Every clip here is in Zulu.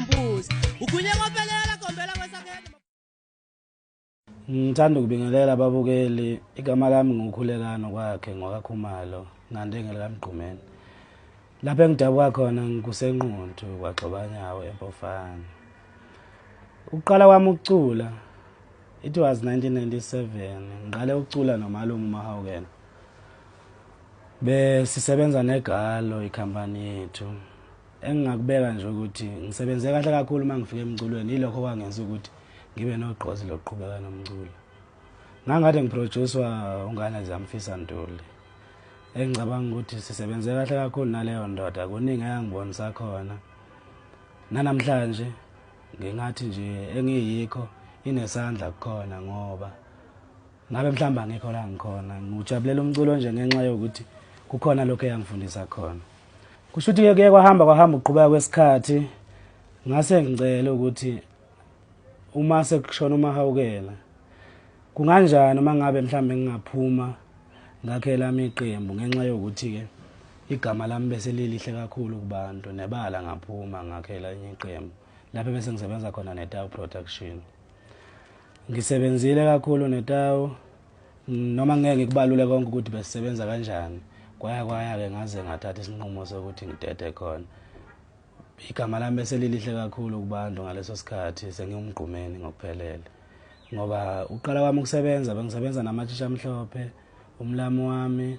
mbuzi ukhulye ngophelela gombela kwesakhele Ngithanda ukubingelela ababukeli igama lami ngukhulekano kwakhe ngwakakhumalo ngandengele kamgqumeni lapho engidabuka khona ngikusenquntu kwagxobanyawo empofana ukuqala kwami ukucula it was 1997 ngiqale ukucula nomalume umahawukela besisebenza negalo ikhampani yethu Engingakubeka nje ukuthi ngisebenze kahle kakhulu uma ngifika emculweni yilokho kwangenza ukuthi ngibe nogqozi lokuqhubeka nomculo. Ngangikade ngiproducwa ungane ziyamfisa Ntuli. Engicabanga ukuthi sisebenze kahle kakhulu naleyo ndoda kuningi eyangibonisa khona. Nanamhlanje ngingathi nje engiyikho inesandla kukhona ngoba ngabe mhlawumbe angikho la ngikhona ngiwujabulela umculo nje ngenxa yokuthi kukhona lokho eyangifundisa khona kusho ukuthi-ke kuye kwahamba kwahamba ukuqhubeka kwesikhathi ngase ngicele ukuthi uma sekushona umahawukela kunganjani uma ngabe mhlawumbe ngingaphuma ngakhe lami iqembu ngenxa yokuthi-ke igama lami bese lilihle kakhulu kubantu nebala ngaphuma ngakhe elinye iqembu lapho bese ngisebenza khona netawu production ngisebenzile kakhulu netawu noma ngeke ngikubalule konke ukuthi besisebenza kanjani kwaya kwaya-ke ngaze ngathatha isinqumo sokuthi ngidede khona igama lami beselilihle kakhulu kubantu ngaleso sikhathi sengiwumgqumeni ngokuphelele ngoba uqala kwami ukusebenza bengisebenza namathisha amhlophe umlami wami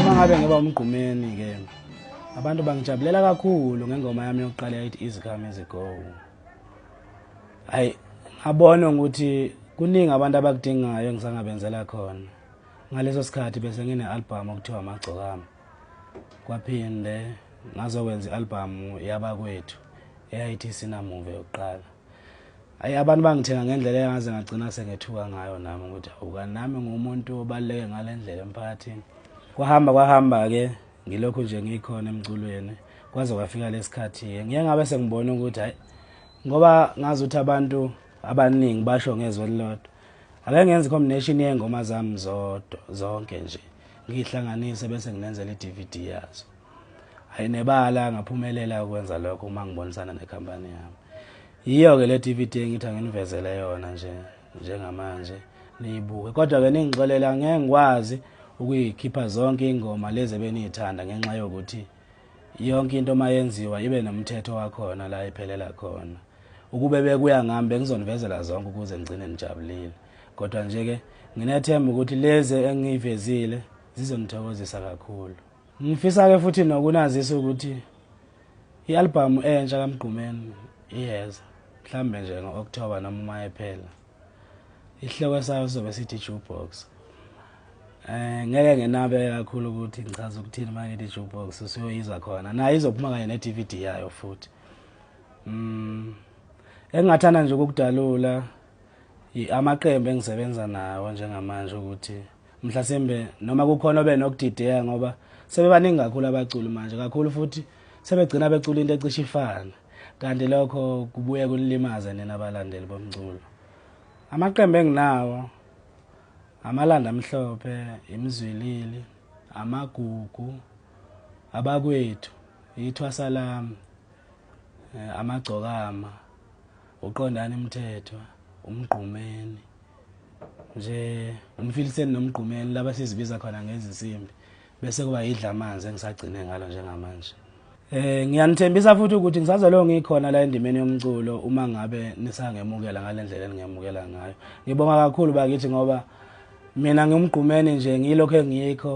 uma ngabe ngiba umgqumeni ke abantu bangijabulela kakhulu ngengoma yami yokuqala yayithi easy come easy go hayi ngabona ukuthi kuningi abantu abakudingayo engisangabenzela khona ngaleso sikhathi bese ngine-albhamu okuthiwa amagcokami kwaphinde ngazokwenza i-albhamu yabakwethu eyayithi sinamuve yokuqala Hayi abantu bangithenga ngendlela engaze ngagcina sengethuka ngayo nami ukuthi awuka nami ngumuntu obaluleke ngale ndlela emphakathini. Kwahamba kwahamba-ke ngilokhu nje ngikhona emculweni kwaze kwafika lesikhathi-ke ngiye ngabe sengibona ukuthi hayi ngoba ngazi ukuthi abantu abaningi basho ngezwe elilodwa ake ngenze i-combination yey'ngoma zami zodwa zonke nje ngiyihlanganise bese nginenzela i-d v d yazo hayi nebala ngaphumelela ukwenza lokho uma ngibonisana nekhampani yami yiyo-ke le dvd engithi anginivezele yona nje njengamanje niyibuke kodwa-ke ningixolela ngeke ngikwazi ukuyikhipha zonke iy'ngoma lezi ebeniyithanda ngenxa yokuthi yonke into uma yenziwa ibe nomthetho wakhona la iphelela khona ukube bekuya ngami bengizonivezela zonke ukuze ngigcine nijabulile kodwa nje-ke nginethemba ukuthi lezi engiyivezile zizonithokozisa kakhulu Ngifisa ke futhi nokunazisa ukuthi i-albhamu entsha kaMgqumeni iyeza mhlambe nje ngo-October noma uma ephela isihloko sayo sizobe sithi jukebox eh ngeke ngenabe kakhulu ukuthi ngichaza ukuthini manje ngithi jukebox usuyoyiza khona naye izophuma kanye ne-DVD yayo futhi mm engingathanda nje ukukudalula amaqembu engisebenza nawo njengamanje ukuthi mhlasimbe noma kukhona obe nokudideka ngoba sebebaningi kakhulu abaculi manje kakhulu futhi sebegcina becula into ecishe ifane kanti lokho kubuye kunilimaze nina balandeli bomculo amaqembu enginawo amalanda amhlophe imizwilili amagugu abakwethu ithwasa lami eh, amagcokama uqondani mthethwa umgqumeni nje umfiliseni nomgqumeni laba sizibiza khona ngezinsimbi bese kuba yidla amanzi engisagcine ngalo njengamanje Eh ngiyanithembisa futhi ukuthi ngisazolo ngikhona la endimeni yomculo uma ngabe nisangemukela ngalendlela eningemukela ngayo. Ngibonga kakhulu bakithi ngoba mina ngimgqumeni nje ngilokho engikho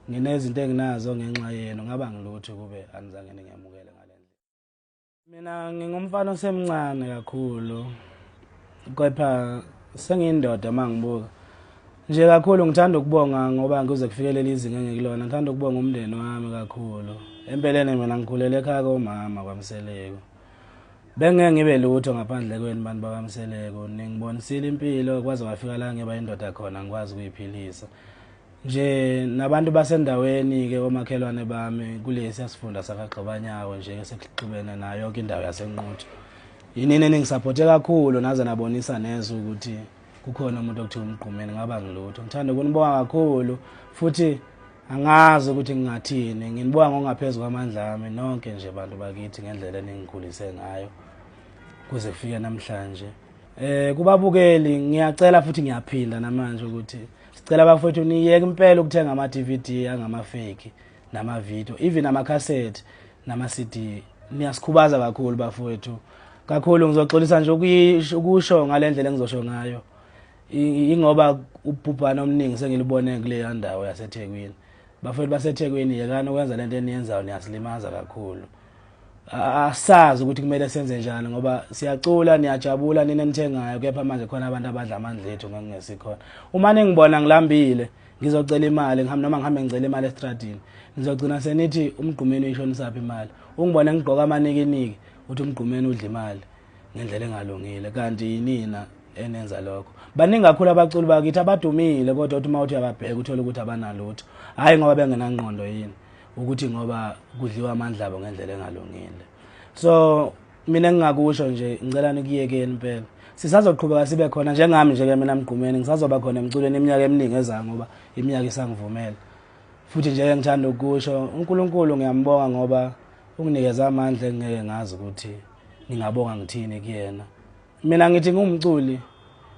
nginezinto enginazo ngenxa yenu ngaba ngilutho kube anizange ningemukele. mina ngingumfana osemncane kakhulu kepha sengiyindoda uma ngibuka nje kakhulu ngithanda ukubonga ngoba ngize kufikelele izinga engikulona ngithanda ukubonga umndeni wami kakhulu empeleni mina ngikhulele ekhaya komama kwamseleko bengeke ngibe lutho ngaphandle kweni bantu bakamseleko ningibonisile impilo kwaze kwafika la ngiba indoda khona ngikwazi ukuyiphilisa nje nabantu basendaweni-ke komakhelwane bami kulesi asifunda sakagxobanyawo nje esekuxubene nayo yonke indawo yasenquthu yinini eningisaphothe kakhulu naze nabonisa neze ukuthi kukhona umuntu okuthiwa umgqumeni ngaba ngilutho ngithanda ukunibonga kakhulu futhi angazi ukuthi ngingathini nginibonga ngokungaphezu kwamandla ami nonke nje bantu bakithi ngendlela eningikhulise ngayo kuze kufike namhlanje eh kubabukeli ngiyacela futhi ngiyaphinda namanje ukuthi sicela bafowethu niyeke impela ukuthenga ama-dvd angamafeki namavidiyo even amakhasethi nama-cd niyasikhubaza kakhulu bafowethu kakhulu ngizoxolisa nje ukusho ngale ndlela engizosho ngayo ingoba ubhubhane omningi sengilibone kuleya ndawo yasethekwini Bafowethu baseThekwini yekani ukwenza lento eniyenzayo niyasilimaza kakhulu. Asazi ukuthi kumele senze njani ngoba siyacula niyajabula nina nithengayo kepha manje khona abantu abadla amandla ethu ngengesikhona. Uma ningibona ngilambile ngizocela imali ngihamba noma ngihambe ngicela imali estradini nizogcina senithi umgqumeni uyishonisaphi imali ungibona ngigqoka amanikiniki uthi umgqumeni udla imali ngendlela engalungile kanti yinina enenza lokho baningi kakhulu abaculi bakithi abadumile kodwa uthi uma uthi uyababheka uthole ukuthi abanalutho hhayi ngoba bengenangqondo yini ukuthi ngoba kudliwa amandla abo ngendlela engalungile so mina ngingakusho nje ngicela nikuyekeni impela sisazoqhubeka sibe khona njengami nje ke mina mgqumeni ngisazoba khona emculweni iminyaka eminingi ezayo ngoba iminyaka isangivumela futhi nje ngithanda ukusho uNkulunkulu ngiyambonga ngoba unginikeza amandla engeke ngazi ukuthi Ngingabonga ngithini kuyena? Mina ngithi ngumculi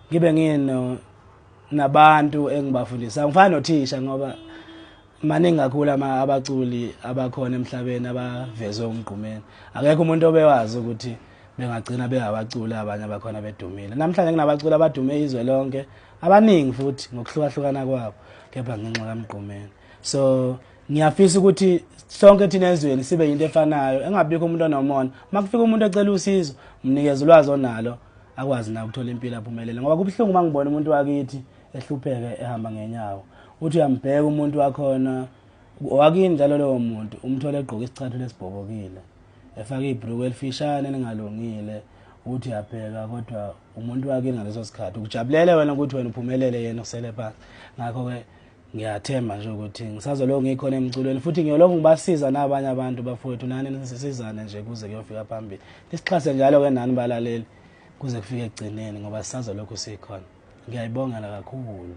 ngibe ngino nabantu engibafundisa. Ngifana nothisha ngoba maningi kakhulu abaculi abakhona emhlabeni abavezwe umgqumeni. Akekho umuntu obewazi ukuthi bengagcina bengabaculi abanye abakhona bedumile. Namhlanje kunabaculi abadume izwe lonke abaningi futhi ngokuhlukahlukana kwabo kepha ngenxa kamgqumeni. So ngiyafisa ukuthi sonke thina ezweni sibe yinto efanayo engabikho umuntu onomona uma kufika umuntu ecela usizo mnikeze ulwazi onalo akwazi na ukuthola impilo aphumelele ngoba kubuhlungu uma ngibona umuntu wakithi ehlupheke ehamba ngenyawo uthi uyambheka umuntu wakhona wakini njalo lowo muntu umthole egqoke isicathulo esibhobokile efake ibhruku elifishane elingalungile uthi uyabheka kodwa umuntu wakini ngaleso sikhathi ukujabulela wena ukuthi wena uphumelele yena usele phansi ngakho-ke ngiyathemba nje ukuthi ngisazolokhu ngikhona emculweni futhi ngiyolokhu ngibasiza nabanye abantu bafowethu nani nisizane nje kuze kuyofika phambili nisixhase njalo-ke nani balaleli kuze kufike ekugcineni ngoba sisazolokhu sikhona ngiyayibongela kakhulu